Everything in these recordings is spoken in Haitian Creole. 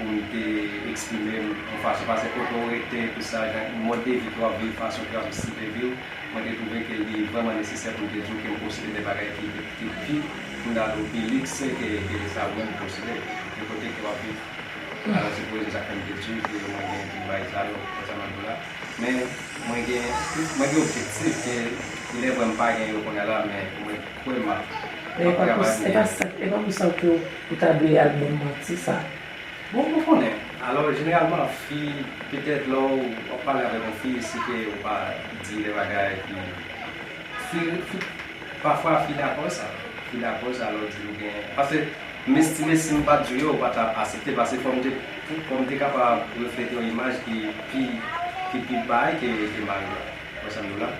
pou m te eksprime m yon fason pase kote w rete epi sa jan mòd de vi ke w ap viv fason ke w ap sive vi w mwen te twouve ke li vrèman nesesè pou m te di w ke m posede de bagay ki pi pi fondame ou pi likse ke sa ou menm posede de kote ke w ap viv alò se pwezi sa fè m te di w ke mwen gen tout bagay sa yo konsa mwen di w la men mwen gen mwen gen objektif ke ilèvre m pa gen yo kounya la men mwen kwè m ap ap travay pou m gen yo. Ou ta dwe al banm manti sa. Bon mwen konnen, alò jeneralman fi petèt lè w wap pale avèk yon fi si ke ou pa di de bagay ki fi fi pafwa fi dakò sa fi dakò sa lè w di ou gen pase m estime si m pat di w yo ou pa tap asepte pase fò m te fò m te kapab reflete yon imaj ki pi ki pi bay ke ke mari w la ou konprann sa m di w la?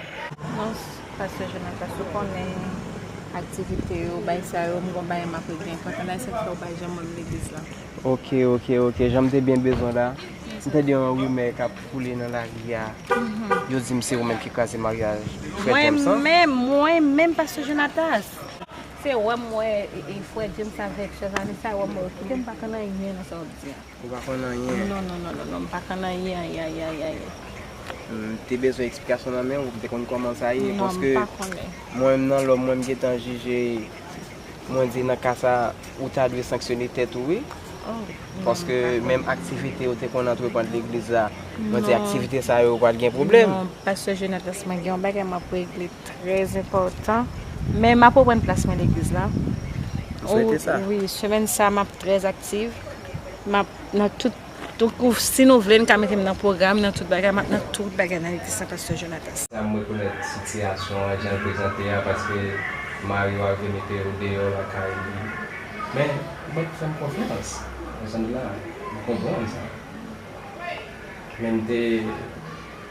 Non Pasteur Jonathan sou konnen aktivite yo bay sa yo m gon bagay map regnen kontan la esak fèw pa janm wèm legliz la. Ok ok ok janm te byen bezwen la m tande yon rimè kap foule nan lari a yo dim se ou menm ki kraze maryaj frè James lan. Mwen menm mwen menm pasteur Jonatas se wèm wè frè James avèk chèzanmi sa wèm wè yo kitem pa konn anyen nan sa wap di a. Ou pa konn anyen. Non non non non non m pa konn anyen ayayayayay. M te bezwen eksplikasyon nan men ou, m te konn kòman sa ye. Non m pa konnen. Mwen menm nan lòm mwen m gentan jije mwen di nan ka sa ou ta dwe sanksyone tèt ou wi. Paske menm aktivite ou te konn antreprann legliz la, mwen di aktivite sa yo ou pa t gen pwoblèm. Non pastè Jonatas mwen gen yon bagay m ap regle trè enpòtan. Men m ap reprann plas mwen legliz la. Ou swete sa? Wi, semèn sa m ap trè ak. aktiv map nan tout donkou si nou vle nou ka metem nan pwogram nan tout bagay map nan tout bagay nan legliz sa pastè Jonatas. Sam rekonèt sitiyasyon an janl prezante a paske mariw a vle mete ou deyò lakay li men ou mèt fèm konfyans nan janm la m konprann sa menm te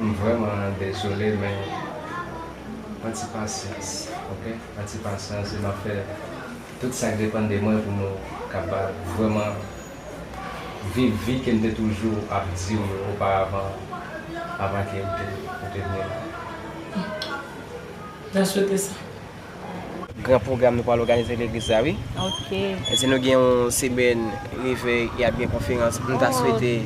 M vrèman dezole men pran ti pasyans ok pran ti pasyans e map fè tout sak depann de mwen pou nou kapab vrèman viv vi kem te toujou ap diw yo oparavan avan ke ou te vini la. M ta swete sa. Gran pwogram nou pral òganize legliz la wi. Ok. Si nou gen yon semèn revèy e ap gen konferans nou ta swete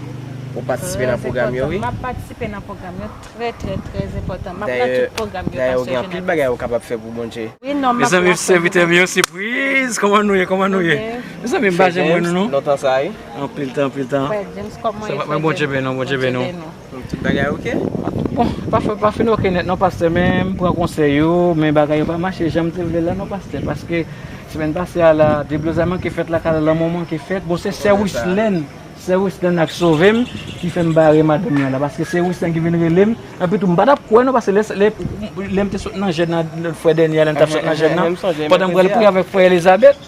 ou patisipe nan pwogram yo wi. Trè enpòtan. Map patisipe nan pwogram yo trè trè trè enpòtan. Map la tout pwogram yo pastè Jonathan. Dayè ou gen anpil bagay ou kapab fè pou Bondye. Wi non map la. Mezanmi sèvitè m yo sipriz kòman nou ye kòman nou ye. Mezanmi m pa janm wè nou non. Frè James lontan sa wi. Anpil tan anpil tan. Frè James kòman ye frè James. Mwen Bondye beni nou Bondye beni nou. Donk tout bagay ok? Bon, pa fè, pa fin ok nèt non pastè men m pran konsèy ou men bagay yo pa mache jan m te vle l la non pastè paske semèn pase a la deblozay manke fèt lakay la lanmò manke fèt bon se sè Wislèn, sè Wislèn ak Sove m ki fè m bare madanm nan la paske sè Wislèn ki vin rele m epi tou m pa t ap kwè non paske lè lè lè m te sot nan jèn nan lòt fwa dènyè a lè m t ap sot nan jèn nan pandan m pral priye avèk frè Elizabèt.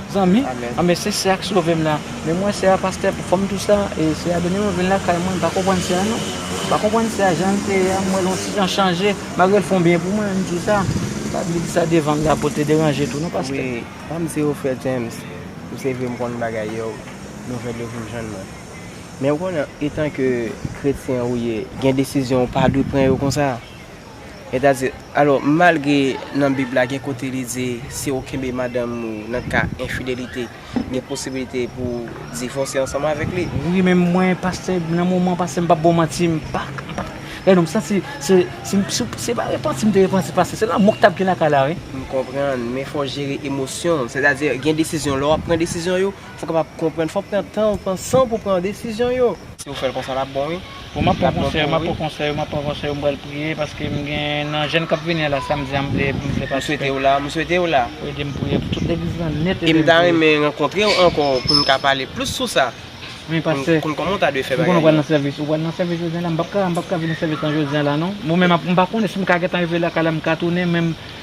Zanmi an men se sè a k sove m la men mwen sè a pastè pou fanm tou sa e sè a Deni mwen vin lakay mwen m pa konprann sè a non m pa konprann sè a jan l te ye a m wè l on ti jan chanje malgre l fon byen pou mwen m di w sa m pa vle di sa devan m la pou l te deranje tou non pastè. Wi fanm se yo frè James m se vre m konn bagay yo nouvèl yo vin jwenn mwen men ou konnen etan ke kretyen ou ye gen desizyon ou pa dwe pran yo konsa. Etazini. Alò, malgre nan Bib la gen kote li di si ou kenbe madanm ou nan ka enfidelite, gen posibilite pou ou divòse ansanm avèk li. Wi men mwen pastè nan moman pastè m pap ba w manti m pa gade non m santi se se pa repanti m te repanti pastè se lanmou k tap gen lakay la wi. M konprann men fò w jere emosyon w sètadi gen desizyon lè wap pran desizyon yo fò w kapab konprann fò w pran tan w pran san w pou w pran desizyon yo. Si ou fèl konsa lap bon wi. Bon map pran konsèy ou map pran konsèy ou map pran konsèy ou m pral priye paske m gen nan jèn kap vini an la samdi an m vle m vle patisipe. M swete w la m swete w la. Ede m priye pou tout legliz lan nèt ede m priye. E m ta renmen rankontre w ankò pou n ka pale plis sou sa. Men pastè. Pou n konn kòman ou ta dwe fè bagay yo. M konnen ou pral nan sèvis ou pral nan sèvis jodi an la m pap ka m pap ka vini nan sèvis lan jodi an la non. Bon men m pa konnen si m ka gentan rive lakay la m ka tounen men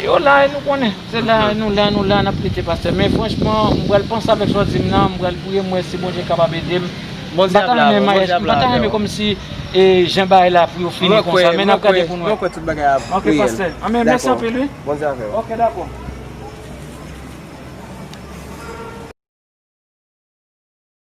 Yo la e nou konnen, se la e nou la, nou la nap lite pastè, men franchman m pral panse avèk sa w di m nan, m pral priye m wè si Bondye kapab ede m, m pa ta renmen maryaj, m pa ta renmen kòmsi jan bagay la pou yo fini konsa, men nap gade pou n wè. Ok pastè, anmweyy mèsi anpil wi. Ok dakò.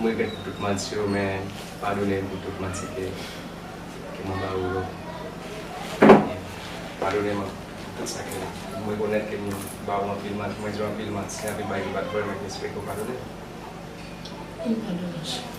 M regrèt tout manti yo men padone m pou tout manti ke ke mwen ba ou yo Amen padone m pou tout sa ke m rekonèt ke m ba ou anpil manti mwen di w anpil manti anpil bagay ki pat vre men m espere ke w padone m. M padone w cheri.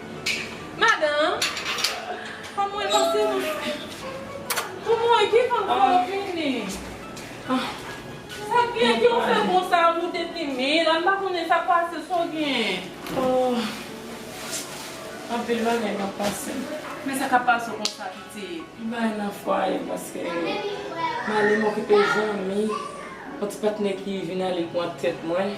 Madan, fanm mwen pase nan. Ou mouri ki fanm sa yo vini. Sak gen ki ou fè konsa ou moute timid la m pa konnen sak pase sa w gen. Oh anpil bagay kap pase. Men sa kap pase w konsa pitit. M pa nan fwaye paske m ale m okipe zanmi yon ti patnè ki vin ale pran tèt mwen.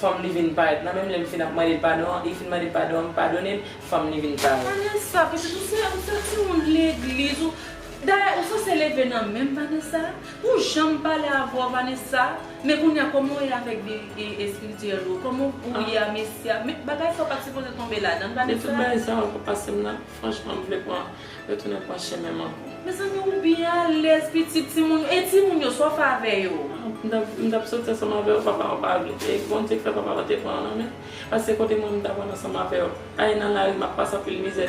Fanm li vin parèt nan menm lèm fin ap mande padon an li fin mande padon an m padone l fanm li vin parèt. Vanessa pitit ou se ou se timoun legliz ou dayè ou sanse leve nan menm Vanessa ou janm pale avèw Vanessa men kounya kòman ou ye avèk vi espirityèl ou kòman ou ye a mesye a men bagay sa ou pat sipoze tonbe ladann Vanessa. Men tout bagay sa yo pap pasem nan. Franchman m vle pran retounen pran chemenm ankò. Mezanmi ou byen alèz pitit timoun e timoun yo sa w fè avè yo? M tap soti ansanm avè yo papa an pa vle e Bondye k fè papa pa te pran an nan menm paske kote mwen m ta pral ansanm avè yo ale nan lari map pase anpil mizè.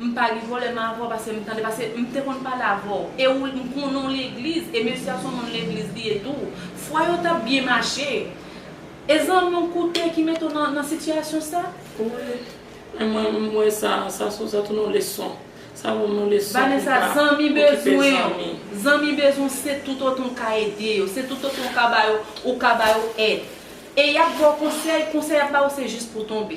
M pa ri volè m avèw pase m tande pase m te konn pale avèw e ou m konnen w legliz e mesye a son moun legliz li ye tou fwa yo tap byen mache e zanmi w koute ki mete w nan sitiyasyon sa. Wi men mwen m wè sa sa son sa tounen yon leson sa banm yon leson pou m pa okipe zanmi. Zanmi bezwen w se tout otan w ka ede yo se tout otan w ka ba yo ou ka ba yo èd e yap ba w konsèy konsèy yap ba w se jis pou w tonbe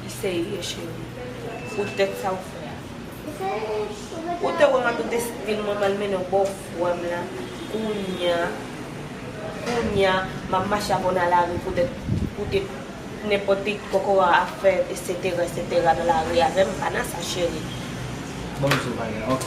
Li serye cheri. Pou tèt sa ou fè a. Ou te wè map tout esprim mwen mal mennenw bò frèm la kounya kounya map mache avèw nan lari pou tèt pou tèt nenpòt ti kokorat ap fè etc etc nan lari avèm pa nan sa cheri. Bon m sou bagay ok.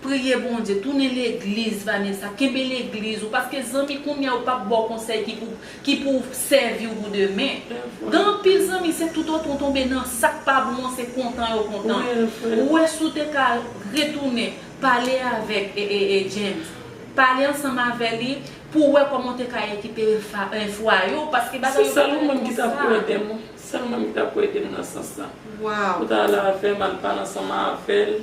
Priye Bondye tounen legliz Vanessa kenbe legliz ou paske zanmi kounya yo pap baw konsèy ki pou ki pou sèviw pou demen gen anpil zanmi se tout otan w tonbe nan sak pa bon an se kontan yo kontan ou wè si w te ka retounen pale avèk James pale ansanm avè li pou wè kòman w te ka rekipere fwaye w paske bagay yo pa rete konsa. Se sèlman ou menm ki ta pou edem wi sèlman ou menm ki ta pou edem nan sans lan pou ta ale avèm al pale ansanm avèl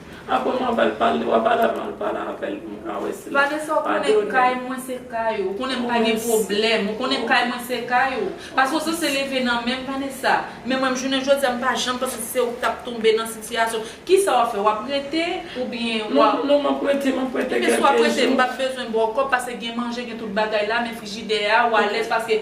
Ah bon wap al pale wap al avan al pale avèl poum ka wè sil Vanessa ou konnen kay mwen se kay ou konnen m pa gen pwoblèm ou konnen kay mwen se kay ou paske ou sanse leve nan menm Vanessa men mwen jounen jodya m pa janm panse se ou k tap tonbe nan sitiyasyon kisa wap fè wap rete oubyen wap Non map rete map rete kèlke jou. Ebyen si wap rete m pap bezwen baw kòb paske gen manje gen tout bagay la men frijidè a ou alèz paske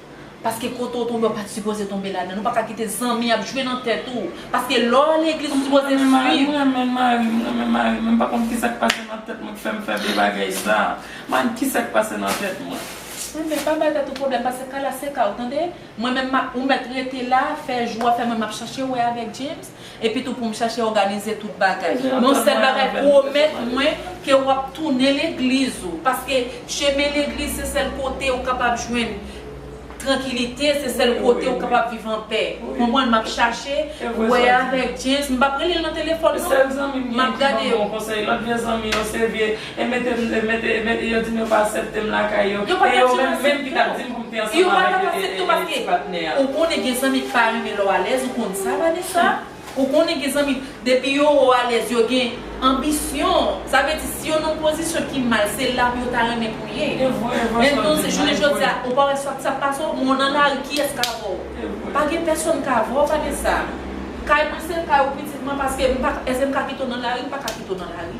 Paske kote ou tonbe ou pat sipoze tonbe ladann ou paka kite zanmi ap jwe nan tèt ou paske lè w al legliz ou sipoze swiv. Mwen renmen marim mwen renmen marim mwen pa konn kisak pase nan tèt mwen ki fèm fè vye bagay sa marim kisak pase nan tèt mwen. Renmen pa bay tèt ou pwoblèm pase ka la se ka ou tande mwen menm map ou mèt rete la fè jou a fè mwen map chache wè avèk James. Epitou pou m chache òganize tout bagay. Men yon sèl bagay, pwomèt mwen ke w ap tounen legliz ou. Paske chemen legliz se sèl kote ou kapab jwenn trankilite, se sèl kote ou kapab viv anpè. Konprann? M ap chache wè avèk James. M pa p rele l nan telefòn non. M ap gade. E mete m, e mete, e mete, yo di m yo pa asèpte m lakay yo. Yo pa ta janm asèpte w. E yo menm, menm ki t ap di m pou m te ansanm avèk e, e, e, e ti patnè a. Ou konnen gen zanmi k pa renmen lè w alèz, ou konn sa Vanessa. Ou konnen gen zanmi, depi yo wè w alèz yo gen anbisyon. Sa vle di si yo nan yon pozisyon ki mal, se la pou yo ta renmen pou w ye. E vre, e vre sa w di. Entonse, jounen jodi a, ou pa wè sa k pase w, moun nan lari kiyès k a vè w? E vre. Pa gen pèsonn k a vè w Vanessa. Kay mwen se kay ou pitit mwen paske m pa, èske m ka kite w nan lari? M pa ka kite w nan lari.